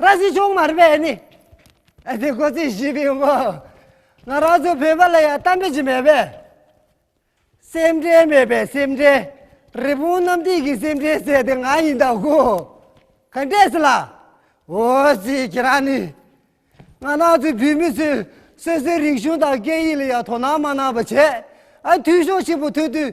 ར་བཟི་ཆུང་མར་བས་ནི་ཨ་ཏི་ཁོ་ཚོས་བྱིས་པའི་ངང་ང་རང་ཚོའི་བོད་པ་ལ་ཡང་གཏམ་དཔེ་ཞིག་མེད་པས་སེམས་ཁྲལ་མེད་པའི་སེམས་ཁྲལ་རི་བོང་གནམ་ཐིག་གི་སེམས་ཁྲལ་ཟེར་དེ་ང་ཡིན་ད་གོ་ག་འདྲས་སུ་ལགས། འོ་སི་ཁྱེད་རང་ནི་ང་རང་ཚོའི་བོད་མི་ཚོས་སོ་སོའི་རིག་གཞུང་དང་སྐད་ཡིག་ལ་ཡང་དོ་སྣང་མ་གནང་བ་བྱས་ཨ་འཐུས་ཤོག་ཆེན་པོ་ཐོན་དུས་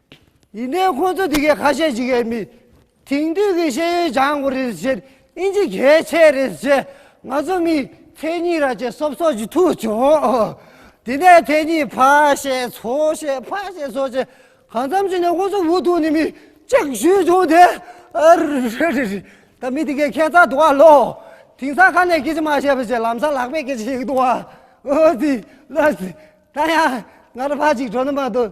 ཡིན་ནའི་ཁོང་ཚོ་འདི་གའི་ཁ་ཤས་ཤིག་ཡས་མི་དེང་དུས་ཀྱི་ཤེས་ཡོན་སྦྱང་དགོས་རེད་ཟེར་ཨིན་ཇི་གལ་ཆེ་རེད་ཟེར་ང་ཚོ་མི་མཚན་ཉིད་ར་ཅེ་སོབ་སོབ་ཅིག་ཐུག་བྱུང། དེ་ནས་མཚན་ཉིད་ཕ་ཤེས་ཚོ་ཤེས་ཕ་ཤེས་ཚོ་ཤེས་གང་འཚམ་ཞིག་ནས་ཁོང་ཚོ་འུ་ཐུག་ནས་མི་གཅིག་ཞུས་བྱུང་དེ་ཨ་རེ་རེ་རེ་རེ་ད་མི་དེ་གའི་ཁྱད་མཚར་འདུག་ཨ་ལོ་དེང་སང་ཁ་ནས་སྐད་ཅིག་མ་བཤད་པ་ཞིག་ལམ་སང་ལག་པས་སྐད་ཅིག་ཞིག་འདུག་ཨ་ཨོ་དེ་ལ་ཟེར་ད་ཡང་ང་ར་ཕ་ཅིག་གྲོ་ནས་མ་འདུག།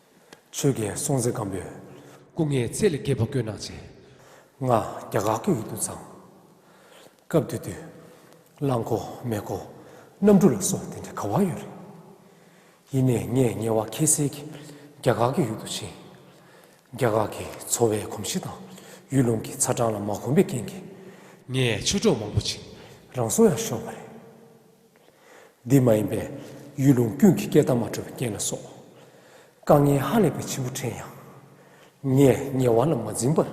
ཆོས་རྒྱལ་སྲོང་བཙན་སྒམ་པོས། སྐུ་ངལ་ཚད་ལས་བརྒལ་བ་བཀོད་གནང་བྱས། ལྔ། རྒྱ་དགག་སྐད་ཡིག་ཏུ་བརྫངས། སྐབས་དེ་དུས། རླངས་འཁོར། མེ་འཁོར། གནམ་གྲུ་ལ་སོགས་དེ་འདྲའི་ག་བ་ཡོད་རེད། ཡིན་ནས་ངས་ངལ་བ་ཁྱད་བསད་ཀྱིས་རྒྱ་དགག་སྐད་ཡིག་ཏུ་བྱིན། རྒྱ་དགག་གིས་འཚོ་བའི་གོམས་གཤིས་དང་ཡུལ་ལུང་གི་ཚ་གྲང་ལ་མ་གོམས་པའི་རྐྱེན་གྱིས། ངས་ཆོས་གྲོགས་མང་པོ་བྱིན། རང་སྲོག་ཡང་ཤོར་བ་རེད། འདི་མ་ཡིན་པས་ཡུལ་ལུང་ཀུན་གྱི་སྐད་གདངས་མ་འཕྲོད་པའི་རྐྱེན་ལ་སོགས། དཀའ་ངལ་ཧ་ལས་པའི་འཆི་འཕོ་དྲན་ཡང། ངས་ཉེ་བ་ལ་མ་འཛིན་པར།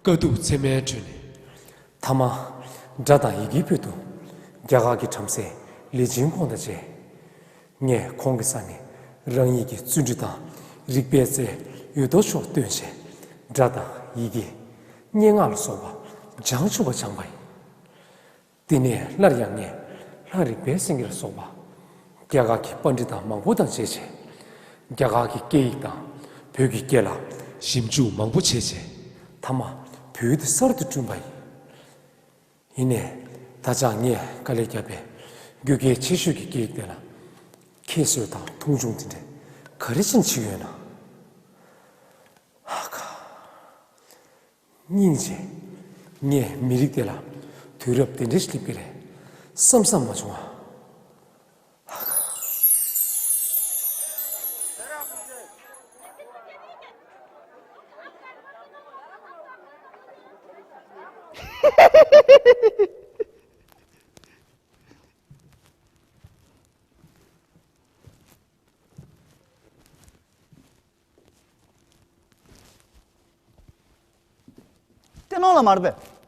དཀའ་སྡུག་མཚན་མའི་ཁྲོད་ནས། ཐ་མ། སྒྲ་དང་ཡི་གེའི་ཕུལ་དུ། རྒྱ་གར་གྱི་བྲམ་ཟེ་ལི་ཇིན་ཁོང་དང་མཇལ། ངས་ཁོང་གི་ས་ནས་རང་ཉིད་ཀྱི་བརྩོན་འགྲུས་དང་རིག་པའི་རྩལ་ཡོད་དོ་ཅོག་སྟོན་བྱས། སྒྲ་དང་ཡི་གེ། སྙན་ངག་ལ་སོགས་པ་བྱང་ཆུབ་པ་སྦྱངས་པ་ཡིན། དེ་ནས་སླར་ཡང་ངས་ལྷ་རིག་པའི་སེང་གེར་སོགས་པ། རྒྱ་གར་གྱི་པར་འབྲི་དང་མང་པོ་དང་བྱས། རྒྱ་གར་གྱི་སྐད་ཡིག་དང་བོད་ཀྱི་སྐད་ལ། ཞིབ་འཇུག་མང་པོ་བྱས། མཐའ་མ་བོད་དུ་གསར་དུ་བསྐྲུན་པ་ཡིན། ཡིན་ནས་ད་ཆ་ངས་དཀའ་ལས་བརྒྱབ་པའི་རྒྱུ་གལ་ཆེ་ཤོས་ཀྱི་སྐད་ཡིག་དེ་ལ། ཁྱད་གསོད་དང་མཐོང་ཆུང་དེ་འདྲས་ག་རེ་བྱིན་བྱིན་ཡོད་ན། ཧ་ཧ། སྙིང་རྗེ། ངས་མི་རིགས་དེ་ལ་དུས་རབས་དེ་འདྲའི་སླེབས་ཀྱི་རེད་བསམ་བསམ་མ་བྱུང་ཨ། ཧ་ཧ། ལྟེ་ནང་ལ་མ་རེད་པས།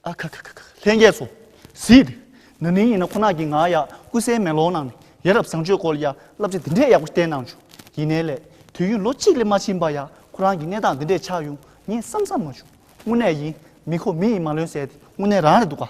ཨ་ཁ་ཁ་ཁ་ཁ་ལྷན་རྒྱས་སུ་གཟིགས་འདུག་ན་ནིང་ཡིན་ན་ཁོ་ན་གི་ང་ཡག་སྐུ་གསལ་མེ་ལོང་ནང་ནས་ཡ་རབས་བཟང་སྤྱོད་སྐོར་ཡ་བསླབ་བྱ་འདི་འདྲས་ཡག་པོ་བསྟན་གནང་བྱུང་ཡིན་ནའི་ལས་དུས་ཡུན་ལོ་གཅིག་ལས་མ་ཕྱིན་པ་ཡ་ཁོ་རང་གི་གནས་སྟངས་འདི་འདྲས་ཆགས་ཡོང་ངས་བསམ་བསམ་མ་བྱུང་དངོས་གནས་ཡིན་མི་ཁོ་མི་ཡིན་མ་ལོན་ཟེར་དེ་དངོས་གནས་རང་རེད་འདུག་ག།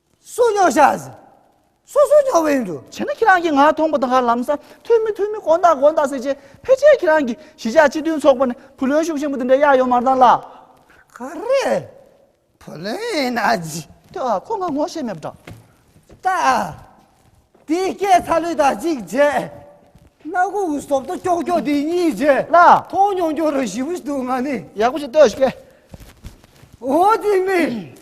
སུ་ཉོ་ཤ་ཟ། སུ་སུ་ཉོ་བའི་འདུ། བྱས་ན་ཁྱེད་རང་གིས་ང་མཐོང་པ་དང་ཧ་ལམ་ས་མཐོའི་མི་མཐོའི་མི་དགོན་བདག་དགོན་བདག་ཟེར་བྱས་ཕལ་ཆེར་ཁྱེད་རང་གིས་གཞིས་ཆགས་སྤྱི་མཐུན་ཚོགས་པ་ནས་བུ་ལོན་ཤུགས་ཆེན་པོ་འདི་འདྲའི་གཡར་ཡོང་མ་མཐང་ལགས། ག་རེད། བུ་ལོན་ཡིན་ན་ཅི། ཐོས་ཨ་ཁོ་ང་ངོ་ཤེས་མེད་པ་འདྲ། ད་དེ་སྐད་ཚ་ལུས་དང་གཅིག་རྗེས་སྣ་གུ་འུ་སོབ་ཏོ་ཀྱོག་ཀྱོག་དེ་གཉིས་རྗེས་ལ། མཐོང་མྱོང་ཀྱོ་རོ་ཞིབ་བཞི་འདུག་ང་ནི། ཡག་པོ་ཞིག་ལྟོས་ཤིག། འོ་དེ་མིན།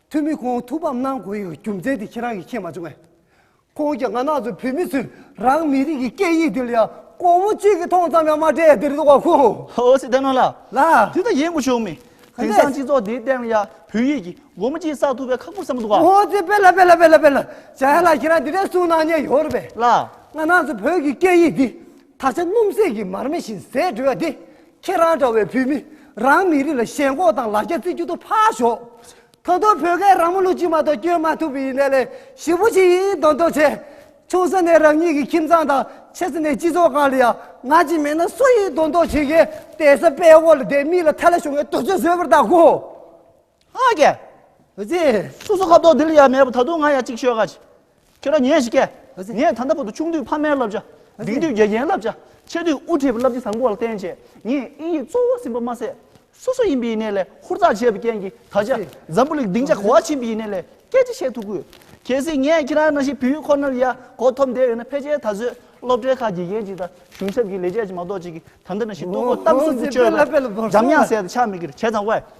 ཐུ་མི་ཁོང་ཐུགས་ཕམ་གནང་དགོས་ཡོད་རྒྱུ་མཚན་དེ་ཁྱེད་རང་གིས་མཁྱེན་མ་བྱུང་བས། ཁོང་གིས་ང་ནག་ཚོས་བོད་མི་ཚོས་རང་མི་རིགས་ཀྱི་སྐད་ཡིག་དེ་ལ་ཡང་གོང་བུ་གཅིག་གིས་མཐོང་ཙམ་ཡང་མ་སྤྲད་དེར་དོགས་པ་ཁུག། ཨོ་སི་ཐན་ནོ་ལགས། ལགས། དེ་ལྟར་ཡིན་དགོས་བྱུང་མེད། དེང་གནས། སང་སྤྱི་ཚོགས་འདིའི་སྟེང་ལ་ཡང་བོད་ཡིག་གིས་སྒོ་མོ་གཅིག་བསགས་ཐུབ་པའི་ཁག་པོ་བསམ་མི་འདུག་ག། ཨོ་སི་དཔེ་ལ་དཔེ་ལ་དཔེ་ལ་དཔེ་ལ། བྱ་ཡ་ལགས་ཁྱེད་རང་འདི་འདྲའི་གསུང་གནང་མྱངས་ཡོད་རེད་པས། ལགས། ང་ནག་ཚོས་བོད་ཀྱི་སྐད་ཡིག་འདི་ད་ཆ་སྣུམ་ཟད་ཀྱི་མར་མེ་བཞིན་ཟད་འགྲོ་བ་འདི་ཁྱེད་རང་འདྲ་བའི་བོད་མི་རང་མི་རིགས་ལ་ཞེན་ཁོག་དང་ལ་རྒྱ་རྩི་རྒྱུ་དུ་ཕར་ཞོགས། ད་དུང་བོད་སྐད་རང་མོ་ལུག་ཅིག་མ་གཏོགས་སྐྱོན་མ་ཐུབ་པའི་ཡིན་ནའི་ལས་ཞིབ་པོ་ཞིག་ཡིན་མདོག་མདོག་བྱས། ཆུང་ས་ནས་རང་ཉིད་ཀྱི་ཁྱིམ་ཚང་དང་ཆེ་ས་ནས་སྤྱི་ཚོགས་གང་ལ་ཡང་ང་ཅིག་མེད་ན་སུ་ཡིན་མདོག་མདོག་བྱེད་མཁན་དེ་ས་པའི་འོག་ལ་བསྡད་མིག་ལ་ཐལ་ལ་ཞོག་ངས་དུར་ཆེན་བཟོས་པར་བལྟ་གོ། ཨ་ཀྱེ། ཨ་ཙི། སོ་སོ་ཁ་དོག་དེ་ལ་ཡང་མེད་པར་ད་དུང་ང་ཡང་ཅིག་ཤོད་ག། ཁྱོད་རང་ཉོན་ཞིག་གྱེས། ངས་ད་ལྟ་བར་དུ་ཆུང་དུས་ཕ་མའི་བསླབ་བྱ། ལྡིང་དུས་དགེ་རྒན་བསླབ་བྱ། ཆེ་དུས་དབུ་ཁྲིད་བསླབ་བྱ་བཟང་པོ་བར་བསྟན་རྗེས་ངས་དབྱིན་ཡིག་གཙོ་བོར་ཟིན་པ་མ་ཟད། སོ་སོ་ཡིན་པའི་ནད་ལས་ཧུར་ཐག་བྱས་པའི་རྐྱེན་གྱིས་ད་ཆ་འཛམ་བུ་གླིང་སྡིངས་ཆ་གོ་བ་ཕྱིན་པའི་ནད་ལས་སྐད་ཅིག་བཤད་ཐུབ་དགོས། གལ་སྲིད་ངས་ཁྱེད་རང་རྣམ་ཤེས་བུ་ཡུག་ཁོ་ནར་ཡར་སྐོར་ཐོབ་འདས་ཡོད་ན་ཕལ་ཆེར་ད་གཟོད་སློབ་གྲྭའི་ཁག་དགེ་རྒན་ཅིག་དང་གཞུང་ཚབ་ཀྱི་ལས་བྱེད་ཅིག་མ་གཏོགས་ཅིག་གིས་ད་ལྟ་ནང་བཞིན་ལྟོ་གོས་གཏམ་གསུམ་གྱི་སྤྱོད་པ་འཇམ་དབྱངས་ཟེར་དུ་ཆ་མེད་ཀིར་བྱས་ཙང་དབའ་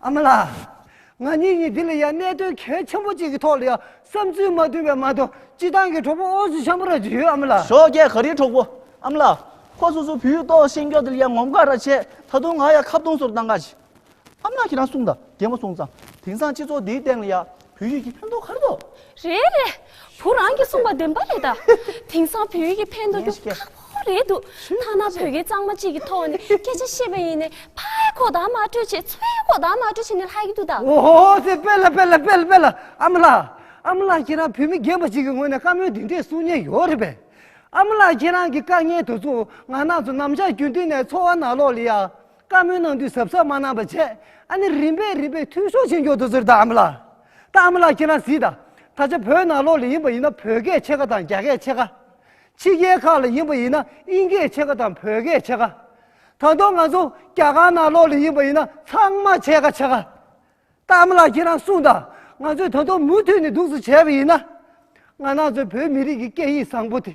ཨ་མ་ལགས། ང་གཉིས་ཀྱིས་འདི་ལ་ཡང་གནད་དོན་གལ་ཆེན་པོ་གཅིག་གི་ཐོག་ལ་ཡང་བསམ་ཚུལ་མ་བསྡུས་པའི་མ་གཏོགས་སྤྱི་བཏང་གི་གྲོགས་པོ་ཨོ་ཟི་ཆང་པོ་ར་ཅི་ཡོད་ཨ་མ་ལགས། ཞོགས་རྒྱལ་ག་རིའི་གྲོགས་པོ་ཨ་མ་ལགས། ཁོ་སོ་སོའི་བུའི་ལྟོགས་ཤིང་སྐྱོ་དེ་ལ་ཡང་ངོམས་ཁ་ར་བྱས་ད་དུང་ང་ཡང་ཁ་བརྡུང་སོར་བཏང་ག་ཅི། ཨ་མ་ལགས་ཁྱེད་རང་གསུང་དང་རྒན་མོ་གསུང་ཙང་དེང་སང་སྤྱི་ཚོགས་འདིའི་སྟེང་ལ་ཡང་བོད་ཡིག་གི་ཕན་ཐོགས་ག་རེ་ཐོགས། རེད་རེད། བུ་རང་གིས་གསུངས་པ་བདེན་པ་རེད་ད། དེང་སང་བོད་ཡིག་གི་ཕན་ཐོགས་རྒྱུ་ཁག་པོ་རེད་འདུག་ཐ་ན་བོད་སྐད་གཙང་མ་གཅིག་གི་ཐོག་ནས་སྐད་ཆ་བཤད་པ་ཡིན་ནའི་ཕའི་ཁོག་དང་མ་སྤྲོད་ཆེད་མཚོའི་ཁོག་དང་མ་སྤྲོད་ཆེད་ནས་ལྷག་གི་འདུག་ད། འོ་ཧོ་ཧོ་ཟེར་དཔེ་ལ་དཔེ་ལ་དཔེ་ལ་དཔེ་ལ་ཨ་མ་ལགས། ཨ་མ་ལགས་ཁྱེད་རང་བོད་མི་རྒན་པ་ཞིག་གི་ངོས་ནས་བཀའ་མོལ་འདི་འདྲས་གསུང་ཉེན་ཡོད་རེད་པས། ཨ་མ་ལགས་ཁྱེད་རང་གི་དཀའ་ངལ་དེ་ཚོ་ང་རྣམས་ཚོ་ནམ་ཞག་རྒྱུན་མཐུད་ནས་འཚོ་བ་ནག་ལོག་ལེ་ཡ། བཀའ་མོལ་གནང་དུས་ཟབ་ཟབ་མ་གནང་བ་བྱས་ཨ་ནི་རིམ་པས་རིམ་པས་འཐུས་ཤོར་བྱེད་མགྱོགས་འདུག་ཟེར་ད་ཨ་མ་ལགས། ད་ཨ་མ་ལགས་ཁྱེད་རང་གཟིགས་ད། ད་ཆ་བོད་ནང་ལོགས་ལས་ཡིན་པ་ཡིན་ན་བོད་སྐད་ཕྱེད་ཀ་དང་རྒྱ་སྐད་ཕྱེད་ཀ། ཕྱི་རྒྱལ་ཁག་ལ་ཡིན་པ་ཡིན་ན་དབྱིན་སྐད་ཕྱེད་ཀ་དང་བོད་སྐད་ཕྱེད་ཀ། ད་དུང་ང་ཚོ་རྒྱ་གར་ནང་ལོགས་ལས་ཡིན་པ་ཡིན་ན་ཚང་མ་ཕྱེད་ཀ་ཕྱེད་ཀ། ད་ཨ་མ་ལགས་ཁྱེད་རང་གསུངས་ད་ང་ཚོས་ད་དུང་མུ་མཐུད་ནས་འདུག་ཟེར་བྱས་པ་ཡིན་ན། ང་ནང་ཚོའི་བོད་མི་རིགས་ཀྱི་སྐད་ཡིག་བཟང་པོ་དེ།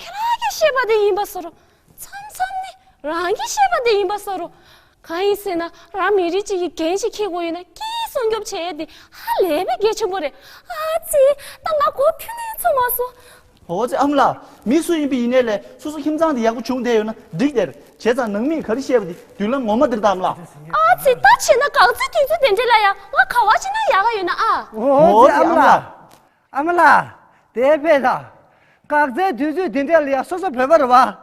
ཁྱེད་རང་གིས་བཤད་པ་དེ་ཡིན་པ་བཟོ་རོགས། མཚམས་མཚམས་ནི་རང་གིས་བཤད་པ་དེ་ཡིན་པ་བཟོ་རོགས། གང་ཡིན་ཟེར་ན་རང་མི་རིགས་གཅིག་གི་འགན་ཞིག་འཁྱེར་དགོས་ཡོད་ན་སྐྱིད་སྲུང་སྐྱོབ་བྱེད་ཡ་དེ་ཧ་ལས་པའི་གལ་ཆེན་པོ་རེད། ཨ་ཙི། ད་ང་གོ་ཐོས་ནས་ཚུར་མ་སོང། ཨོ་ཙི་ཨམ་ལགས། མི་སུ་ཡིན་པའི་ཡིན་ནའི་ལས་སོ་སོ་ཁྱིམ་ཚང་དེ་ཡག་པོ་བྱུང་བསྡད་ཡོད་ན་འགྲིག་དེར་བྱས་ཙང་ནང་མིས་ག་རེ་བཤད་པ་དེ་མདུན་ལམ་ངོ་མ་དེར་བལྟའམ་ལགས། ཨ་ཙི་ད་བྱས་ན་གང་ཚེ་དུས་ཚོད་དེ་འདྲས་ལ་ཡང་ང་ག་བ་བྱས་ན་ཡག་ག་ཡོད་ན་ཨ། ཨོ་ཙི་ཨམ་ལགས། ཨ་མ་ལགས། དེའི་དཔེ་ལ། འགག་རྩའི་དུས་ཚོད་འདི་འདྲ་ལ་ཡང་སོ་སོ་བོད་པ་རུ་བ། བྱས་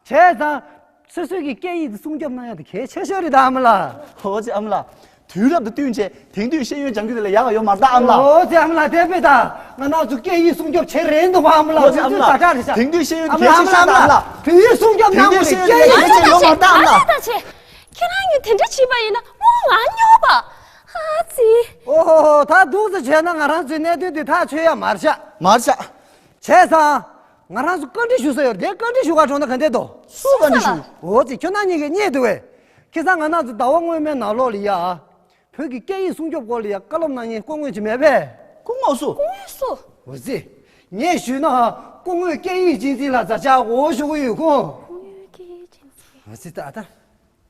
ཙང། སོ་སོའི་གི་སྐད་ཡིག་དུ་སྲུང་སྐྱོབ་གནང་ཡག་དུ་གལ་ཆེ་ཤོས་རེད་ད་ཨ་མ་ལགས། འོ་ཅེ་ཨ་མ་ལགས། དུས་རབས་དང་བསྟུན་བྱས་དེང་དུས་ཤེས་ཡོན་སྦྱང་རྒྱུ་དེ་ལ་ཡག་ག་ཡོད་མ་རེད་ད་ཨ་མ་ལགས། འོ་ཅེ་ཨ་མ་ལགས་དེའི་དཔེ་ལ། ང་ནག་ཆུ་སྐད་ཡིག་སྲུང་སྐྱོབ་བྱེད་རན་འདུག་བ་ཨ་མ་ལགས་དུས་ཚོད་ད་དྲག་རེད་ཤག། དེང་དུས་ཤེས་ཡོན་དེ་གལ་ཆེ་ཤོས་རེད་ད་ཨ་མ་ལགས། དུས་ཡིག་སྲུང་སྐྱོབ་གནང་དགོས་རེད་སྐད་ཡིག། ང་ལྟ་བྱེད། ང་ལྟ་བྱེད། ཁྱེད་རང་གཉིས་དེ་འདྲ་བྱས་པ་ཡིན་ན་དངུལ་ང་ཉོ་བ། ཧ་ཙི། ཨོ་ཧོ་ཧོ་ད་སྡུག་ཙི་བྱས་ན་ང་རང་ཚོའི་གནད་དོན་དེ་ཐག་ཆོད་ཡ་མར་བྱ། མར་བྱ། བྱས་ཙང། ང་རང་ཚོ་བཀའ་འདྲི་ཞུ་ས་ཡོད་རེད་བཀའ་འདྲི་ཞུ་བར་འགྲོ་ན་ག་འདེད་དོ། སུ་བཀའ་འདྲི་ཞུ། ཨོ་ཙི་ཁྱོད་རྣམ་གཉིས་ཀས་རྙེད་འདུག་བས། ཁེ་སང་ང་རྣམ་ཚོ་ཟླ་བ་སྔོན་མའི་ནང་ལོགས་ལི་ཡ། བོད་ཀྱི་སྐད་ཡིག་སྲུང་སྐྱོབ་སྐོར་ལི་ཡ་བཀའ་སློབ་གནང་ཉེན་སྐུ་དངོས་ཅི་མེད་པས། སྐུ་དངོས་སུ། སྐུ་དངོས་སུ། ཨོ་ཙི། ངས་ཞུས་ན། སྐུ་དངོས་སྐད་ཡིག་སྤྱི་འཛིན་ལ་བཟའ་བཅའ་འོ་ཞུ་གི་ཡོད་ཁུངས། སྐུ་དངོས་སྐད་ཡིག་སྤྱི་འཛིན། ཨོ་ཙི་ད་ལྟ།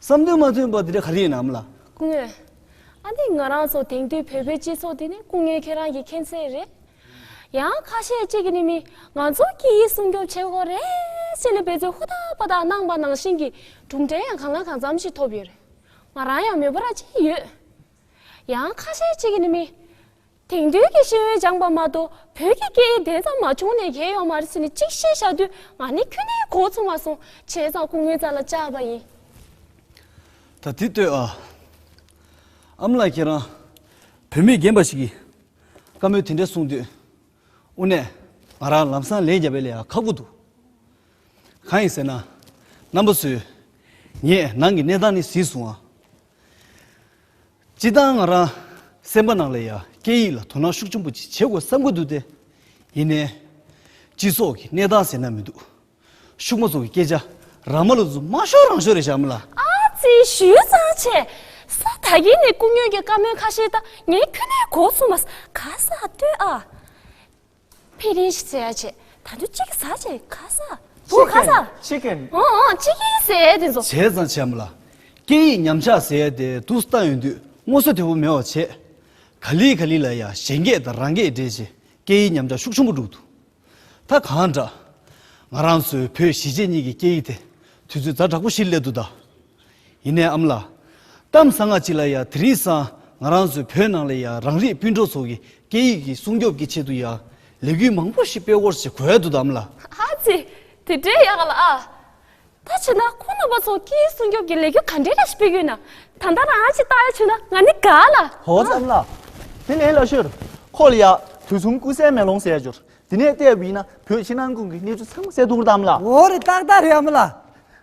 བསམ་དོན་མ་མཐུན་པ་དེ་འདྲ་ག་རེ་ཡིན་ནམ་ལ། སྐུ་ངལ། ཨ་ནི་ང་རང་ཚོ་དེང་དུས་བོད་པའི་སྤྱི་ཚོགས་འདི་ནི་སྐུ་ངལ་ཁྱེད་རང་གིས་མཁྱེན་གསལ་རེད། ཡང་ཁ་ཤས་གཅིག་གིས་ནི་མི་ང་ཚོ་སྐད་ཡིག་སྲུང་སྐྱོབ་བྱེད་དགོས་རེད་ཅེས་ལས་འབད་རྩོལ་ཧུར་ཐག་པ་དག་གནང་པ་ནང་བཞིན་གྱི་གྲུབ་འབྲས་ཡང་གང་ལ་གང་འཚམ་ཞིག་ཐོབ་ཡོད་རེད། ང་རང་ཡང་མོས་པ་ར་སྤྲད་ཀྱི་ཡོད། ཡང་ཁ་ཤས་གཅིག་གིས་ནི་མི། དེང་དུས་ཀྱི་ཤེས་ཡོན་སྦྱངས་པ་མ་གཏོགས་བོད་ཀྱི་སྐད་ཡིག་དེ་ཙམ་མ་བྱུང་ནས་གས་ཡོང་མ་རེད་ཟེར་ནས་གཅིག་བཤད་བཞག་དུས་ང་ནི་ཁྱོད་ནི་གོ་ཚོང་བ་སོང་བྱས་ཙང་སྐུ་ངལ་རྩ་ལ་བཅག་པ་ཡིན། ད་དེ་ལྟོས་ཨ། ཨམ་ལགས་ཁྱེད་རང་བོད་མི་རྒན་པ་ཞིག་གིས་བཀའ་མོལ་དེ་འདྲ་གསུངས་དུས་དབུ་ནས་ང་རང་ལམ་སང་ལན་རྒྱབ་པའི་ལས་ཡང་ཁག་པོ་འདུག་གང་ཡིན་ཟེར་ན་རྣམ་པ་ཚོས་ངས་ནང་གི་གནས་སྟངས་ནི་ཟིན་སོང་ཨ། སྤྱི་བཏང་ང་རང་སེམས་པ་ནང་ལ་ཡང་སྐད་ཡིག་ལ་དོ་སྣང་ཤུགས་ཆེན་པོ་ཅིག་བྱེད་དགོས་བསམ་གྱི་འདུག་སྟེ། ཡིན་ནའི། སྤྱི་ཚོགས་ཀྱི་གནས་སྟངས་ཟེར་ན་མི་འདུག་ཕྱུག་མོ་ཚོ་གི་སྐད་ཆ་རང་མ་ལ་རྫུན་མ་ཤོར་རང་ཤོར་རེད་བཞག་མི་ལ། ཨ་ཙི་ཞུས་ཙང་བྱས། ས་ད་གིན་ནས་སྐུ་སྨྱོན་གྱི་བཀའ་མོལ་ཁ་ཤེས་ད་ངས་ཁྱོད་ལས་གོ་ཚུགས་མ་ག་ས་ལྟོས་ཨ། ཕེ་རེ་ཞིག་ཟེར་ཡ་བྱས། ད་དུང་གཅིག་གིས་ཟ་བྱས་ཁ་ཟ། བུ་ཁ་ཟ། Chicken Chicken འོང་འོང་ཅི་ཡིན་ཟེར་ཡས་དེ་ཚོ། བྱས་ཙང་བྱས་མོ་ལ། སྐད་ཡིག་ཉམས་ཆག་ཟེར་ཡས་དེ་དུག་ལྟ་ཡོང་དུས་སྔོ་སོ་དེ་བོ་མེད་བ་བྱས། ག་ལི་ག་ལི་ལ་ཡ་གཞན་སྐད་དང་རང་སྐད་འདྲེས་རྗེས་སྐད་ཡིག་ཉམས་ཆག་ཤུགས་ཆུང་པོ་འགྲུག་འདུག་ད་གང་འདྲ། ང་རང་ཚོའི་བོད་གཞིས་བྱེས་གཉིས་ཀྱི་སྐད་ཡིག་དེ་དུས་ཚོད་ཛར་དྲག་པོ་ཞིག་སླེབས་འདུག་ད། ཡིན་ནའི་ཨམ་ལགས། གཏམ་བཟང་ང་ཅིག་ལ་ཡང་དེ་རིང་སང་ང་རང་ཚོའི་བོད་ནང་ལ་ཡང་རང་རིགས་སྤུན་གྲོགས་ཚོ་གི་སྐད་ཡིག་གི་སྲུང་སྐྱོབ་ཀྱི་ཆེད་དུ་ཡང་ལས་འགུལ་མང་པོ་ཞིག་སྤེལ་བོར་བྱེད་གོལ་འདུག་དམ་ལ། ཨ་ཙི། དེ་འདྲའི་ཡག་ལ་ཨ། ད་བྱས་ན་ཁོ་ནང་པ་ཚོ་སྐད་ཡིག་སྲུང་སྐྱོབ་ཀྱི་ལས་འགུལ་ག་འདྲའི་ར་ཞིག་སྤེལ་གྱི་ཡོད་ན་ད་ལྟ་རང་ཨ་ཅིག་བཏགས་ཡ་ཆུག་ན་ང་ནི་དགའ་ལ། ཧོ་ཨ་ཙི་ཨམ་ལགས། དེ་ལས་སླ་ཤོས། ཁོ་ལ་ཡང་དུས་གསུམ་སྐུ་གསལ་མེ་ལོང་གསལ་འབྱོར་དེ་ནས་བལྟས་པ་ཡིན་ན་བོད་ཕྱི་ནང་ཀུན་གྱི་གནས་ཚུལ་ཚང་མ་གསལ་ཐུབ་འགྲོ་ད་ཨམ་ལགས། འོ་རེད་ཏག་ཏག་རེད་ཨམ་ལགས།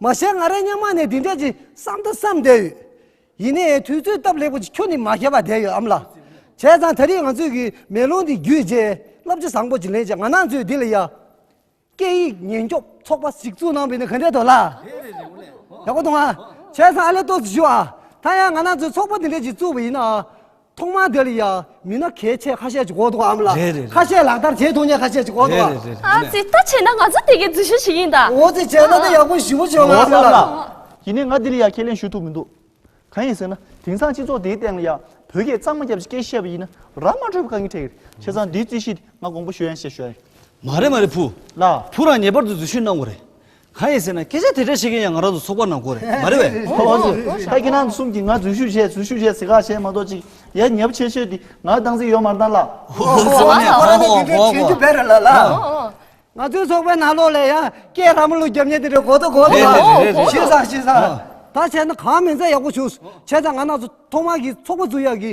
མ་བཤད་ང་རང་སྙན་མ་ནས་འདི་འདྲས་ཀྱི་བསམ་དུ་བསམ་བསྡད་ཡོད། ཡིན་ནའི་དུས་ཚོད་སྟབས་ལེགས་པོ་ཅིག་ཁྱོད་ནི་མ་ཁྱེར་བ་བསྡད་ཡོད་ཨམ་ལགས། བྱས་ཙང་ད་རེས་ང་ཚོས་གི་མེ་ལོང་འདི་བརྒྱུད་རྗེས་རླབས་ཆེ་བཟང་པོ་ཅིག་ལེན་བྱས་ང་ནང་ཚོས་འདི་ལ་ཡ། སྐད་ཡིག་ཉན་སྐྱོབ་ཚོགས་པ་ཞིག་བཙུགས་གནང་བས་ནི་ག་འདྲས་འདུག་ལགས། ཡག་པོ་འདུག་ཨ། བྱས་ཙང་ཨ་ལས་གཏོགས་སུ་ཞུ་ཨ། ད་ཡང་ང་ནང་ཚོས་ཚོགས་པ་འདི་འདྲས་ཅིག་བཙུགས་པ་ཡིན་ན། ཐོག་མ་དེ་ལ་ཡ་མི་སྣ་གལ་ཆེ་ཁ་ཤས་ཀྱི་གོ་ཐོག་འམ་ལ་རེད་རེད་ཁ་རེད་ཤས་ལག་བསྟར་བྱས་ཐུབ་མཁན་ཁ་ཤས་ཀྱི་གོ་རེད་ཐོག་རེད་རེད་རེད་རེད་ཨ། ཙི་ད་བྱས་ན་ང་ཚོ་དེ་གའི་འཛུལ་ཞུགས་ཞིག་ཡིན་ད། འོ་ཙི་བྱས་ན་ད་ཡག་པོ་ཞིབ་པོ་བྱོས་ང་ཟེར་ལ། ཡིན་ནའི་ང་དེ་ལ་ཡ་ཁས་ལེན་ཞུ་ཐུབ་མི་འདུག་གང་ཡིན་ཟེར་ན་དེང་སང་སྤྱི་ཚོགས་དེའི་སྟེང་ལ་ཡ་བོད་སྐད་གཙང་མ་རྒྱབ་ཀྱི་སྐད་བཤད་པ་ཡིན་ན་ར་མ་འཕྲོད་པ་གང་གིས་ཁྲེལ་ཁྱེད་ཚང་དེའི་རྩིས་གཞི་དེ་ང་དགོངས་པ་ཞུ་ཡང་ཞེས་ཞུ་ཡ་ཡིན། མ་རེད་མ་རེད་བུ། ལ། བུ་རང་ངེས་པར་དུ་འཛུལ་ཞུགས་གནང་དགོས་རེད། གང་ཡིན་ཟེར་ན་སྐད་ཆ་དེ་འདྲ་བཤད་མཁན་ཡང་ང་རང་ཚོ་ཚོགས་པ་ནང་སྐོར་རེད་མ་རེད་བས། ཁོ་བོ་ཚོས་ཁ་སྐྱེ་ནང་གསུམ་གྱིས་ང་འཛུལ་ཞུགས་བྱས་འཛུལ་ཞུགས་བྱས་ཟེར་ཁག་བྱས་མ་གཏོགས་ཅིག་ཡ་ཉབ་ཆེ་ཤོས་དེ་ང་སྡང་ཟིག་ཡོད་མ་རྡང་ལགས། ཁོ་རང་ཚོ་དེ་འདྲ་བྱེད་རྒྱུ་བེ་རེད་ལ་ལ། ང་ཚོའི་ཚོགས་པའི་ནང་ལོགས་ལས་ཡང་སྐད་ར་མོ་ལུག་རྒྱབ་ཉེ་དེ་འདྲ་གོ་ཐོ་གོ་ཐོ་ལ་ཤེས་སང་ཤེས་སང། ད་བྱས་ན་གང་མིན་ཚད་ཡག་པོ་བྱུང། བྱས་ཙང་ང་ནང་ཚོ་ཐོག་མར་གྱི་ཚོགས་པ་འཛུགས་ཡག་གི།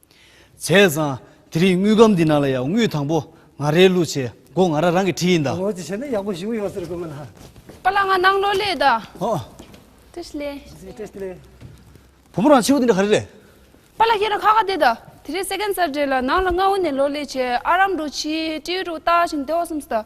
བྱས་ཙང། དེ་རིང་དངུལ་སྒམ་འདི་ནང་ལ་ཡ་དངུལ་དང་པོ་ང་རེའི་བླུགས་བྱས་སྒོ་ང་ར་རང་གི་ཁྲི་ཡིན་ད། ངོ་ཅི་བྱས་ན་ཡག་པོ་བཞུགས་ཡོད་ཟེར་དགོས་མིན་ཧ། པ་ལ་ང་ནང་ལོ་ལེ་ད། ཧོ། ཏི་ཤི་ལེ། ཟི་ཏི་ཤི་ལེ། བུ་མོ་རང་ཕྱི་བོ་འདི་འདྲ་ག་རེ་རེད། པ་ལ་ཁྱེད་རང་ཁ་ཁ་བསྡད་ད། དེ་རིང་སེ་གན་ཙར་འདྲེ་ལ་ནང་ལ་ང་འོ་ནས་ལོ་ལེ་བྱས་ཨ་རམ་འགྲོ་ཕྱིའི་སྤྲེའུ་རུ་བཏགས་ཤིང་སྡེ་བ་གསུམ་སི་ད།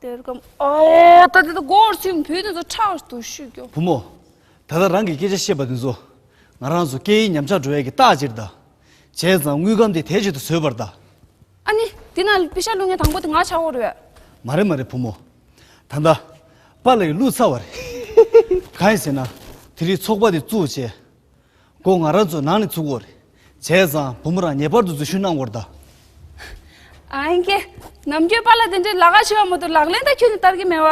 དེར་སྐབས་འོ་ད་དེ་ད་སྒོར་ཚུགས་ནས་བུ་དེ་ཚོ་ཁྲག་ཏུ་བཤུས་རྒྱུ། བུ་མོ། ད་ལྟ་རང་གི་སྐད་ཆ་བཤད་པ་དེ་ཚོ་ང་རང་ཚོ་སྐད་ཡིག་ཉམས་ཆག་འགྲོ་ཡ་གི་རྟགས་ཅིག་གདའ། བྱས་ཙང་དངུལ་སྒམ་དེ་དལ་གྱིས་ཏུ་བཟོས་པར་གདའ། ཨ་ནི། དེ་ན་པི་ཤ་བླུགས་མཁན་དང་པོ་དེ་ང་ཆགས་འོར་ཡོད། མ་རེད་མ་རེད་བུ་མོ། ད་ལྟ། པཱ་ལགས་ཀྱིས་བླུགས་ཚར་བ་རེད། གང་ཡིན་ཟེར་ན། དེ་རིང་ཚོགས་པ་དེ་བཙུགས་རྗེས། སྒོ་ང་རང་ཚོའི་ནང་ནས་ཚུགས་འོར། བྱས་ཙང་བུ་མོ་རང་ངེས་པར་དུ་འཛུལ་ཞུགས་གནང་འོར་གདའ། ཨང་ཀི། ནམ་རྒྱུན་པཱ་ལགས་དེ་འདྲའི་ལ་དྭགས་ཞེས་པ་མོ་དེ་ལག་ལེན་དང་ཁྱོད་ནི་བསྟར་གི་མེད་བ།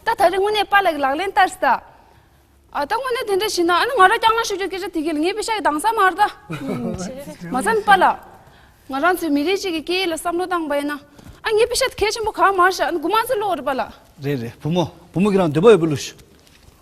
ད་ད་རེས་དངོས་གནས་པཱ་ལགས་ཀྱི་ལག་ལེན་བསྟར་གདའ། ཨ་ད་དངོས་གནས་དེ་འདྲ་བྱེད་ན་ཨ་ནི་ང་རང་སྐྱག་ནག་ཤོད་རྒྱུ་སྐད་ཆ་དེ་གས་ལ་ངའི་བུ་ཤ་ཡི་དྭངས་གཙང་མར་གདའ། མ་རྩ་ནི་པཱ་ལགས། ང་རང་ཚོའི་མི་རིགས་གཅིག་གི་སྐད་ཡིག་ལ་བསམ་བློ་བཏང་བ་ཡིན་ན། ཨ་ངའི་བུ་ཤ་དེ་གས་ཆེན་པོ་གང་མར་བཞག་ཨ་ནི་དགུ་མང་ཚོའི་བློ་འོར་རེད་པཱ་ལགས། རེད་རེད་བུ་མོ། བུ་མོ་ཁྱེད་རང་འདོད་པ་ཡོད་པའི་བློ་ཞུ།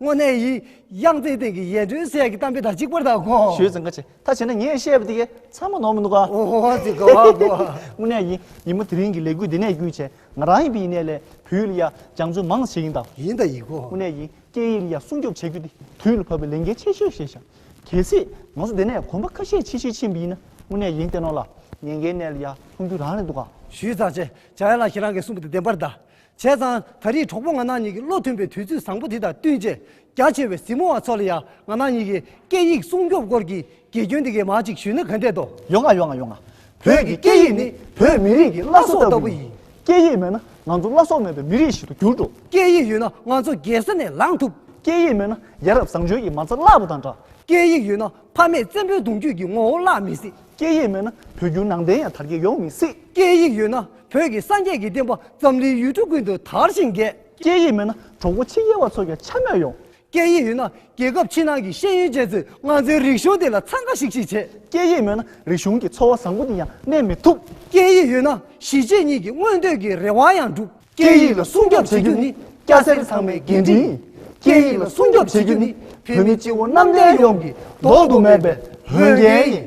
དངོས་གནས་ཡི་དབྱངས་རྩེའི་སྟེང་གི་ཡེ་གྲོལ་ཟས་ཀྱི་གཏམ་དཔེ་དག་གཅིག་པུར་དག་གོ། ཞོའི་རྫིང་ཁ་ཆེ་ད་བྱས་ན་ངས་བཤད་པ་དེ་གས་ཚར་མ་ནོར་མི་འདུག་ག། འོ་འོ་འོ་དེ་གོ་བ་གོ་བ། དངོས་གནས་ཡིན་ཡིན་མོ་དེ་རིང་གི་ལས་འགུལ་འདི་ནས་བསྐུལ་བྱས་ང་རང་ཡིན་པའི་ཡིན་ནས་ལས་བུའི་ལི་ཡ་སྦྱང་བརྩོན་མང་བྱེད་ཡིན་དང། ཡིན་དང་ཡིན་གོ། དངོས་གནས་ཡིན་སྐད་ཡིག་ལི་ཡ་སྲུང་སྐྱོབ་བྱེད་རྒྱུ་དེ་དུས་ལ་བབ་པའི་ལས་འགན་ཆེ་ཤོས་ཤེས་བྱ། གལ་སྲིད་ང་ཚོ་འདི་ནས་གོམ་པ་ཁ་ཤས་ཕྱི་བཤོལ་ཕྱིན་པ་ཡིན་ན་དངོས་གནས་ཡིན་བསྟན་ནོར་ལ་ཉེན་ཁའི་གནས་ལི་ཡ་ལྷུང་རྒྱུ་རང་རེད་འདུག་ག། ཞུས་ཚར་རྗེས་བྱ་ཡ་ལགས་ཁྱེད་རང་གིས་གསུངས་པ་དེ་བདེན་པར་གདའ། བྱས་ཙང་ད་རེས་གྲོགས་པོ་ང་ནག་གཉིས་ཀྱི་བློ་མཐུན་པའི་དུས་ཚོད་བཟང་པོ་དེ་དང་བསྟུན་རྗེས་རྒྱ་ཆེ་བའི་གཟིགས་མོ་བ་ཚོ་ལ་ཡང་ང་ནག་གཉིས་ཀྱི་སྐད་ཡིག་སྲུང་སྐྱོབ་སྐོར་གྱི་དགེ་སྐྱོན་དེ་གའི་མ་ཅིག་ཞུས་ན་ག་འདྲས་དོ། ཡོང་ང་ཡོང་ང་ཡོང་ང། བོད་ཀྱི་སྐད་ཡིག་ནི་བོད་མི་རིགས་ཀྱི་བླ་སྲོག་ལྟ་བུ་ཡིན། སྐད་ཡིག་མེད་ན་ང་ཚོ་བླ་སྲོག་མེད་པའི་མི་རིགས་ཤིག་ཏུ་འགྱུར་འགྲོ། སྐད་ཡིག་ཡོད་ན་ང་ཚོ་རྒྱལ་ས་ནས་ལངས་ཐུབ། སྐད་ཡིག་མེད་ན་ཡ་རབས་བཟང་སྤྱོད་ཀྱི་མ་རྩ་བརླག་པ་དང་འདྲ། སྐད་ཡིག་ཡོད་ན་ཕ་མེས་བཙན་པོའི་གདུང་རྒྱུད་ཀྱི་ངོ་བོ་བརླག་མི་སྲིད། སྐད་ཡིག་མེད་ན་བོད་བརྒྱུད་ནང་བསྟན་ཡང་དར་རྒྱས་ཡོང་མི་སྲིད། སྐད་ཡིག་ཡོད་ན་བོད་ཀྱི་སངས་རྒྱས་ཀྱི་བསྟན་པ་འཛམ་གླིང་ཡུལ་གྲུ་ཀུན་ཏུ་དར་ཞིང་རྒྱས། སྐད་ཡིག་མེད་ན་གྲོགས་པོ་ཕྱི་རྒྱལ་བ་ཚོ་ཀྱང་ཆ་མེད་ཡོང། སྐད་ཡིག་ཡོད་ན་རྒྱལ་ཁབ་ཕྱི་ནང་གི་ཤེས་ཡོན་ཅན་ཚོས་ང་ཚོའི་རིག་གཞུང་འདི་ལ་འཚང་ཁ་ཤིག་ཤིག་བྱེད། སྐད་ཡིག་མེད་ན་རིག་གཞུང་གི་འཚོ་བ་བཟང་པོ་འདི་ཡང་གནས་མི་ཐུབ། སྐད་ཡིག་ཡོད་ན་གཞིས་བྱེས་གཉིས་ཀྱི་མངོན་འདོད་ཀྱི་རེ་བ་ཡང་འགྲུབ། སྐད་ཡིག་ལ་སྲུང་སྐྱོབ་བྱེད་རྒྱུ་ནི་སྐྱ་སེར་ཚང་མའི་འགན་འཁྲི་ཡིན། སྐད་ཡིག་ལ་སྲུང་སྐྱོབ་བྱེད་རྒྱུ་ནི་བོད་མི་སྤྱི་བོ་གནམ་བསྟན་ཡོངས་ཀྱི་ལྡོག་ཏུ་མེད་པའི་འོས་འགན་ཡིན།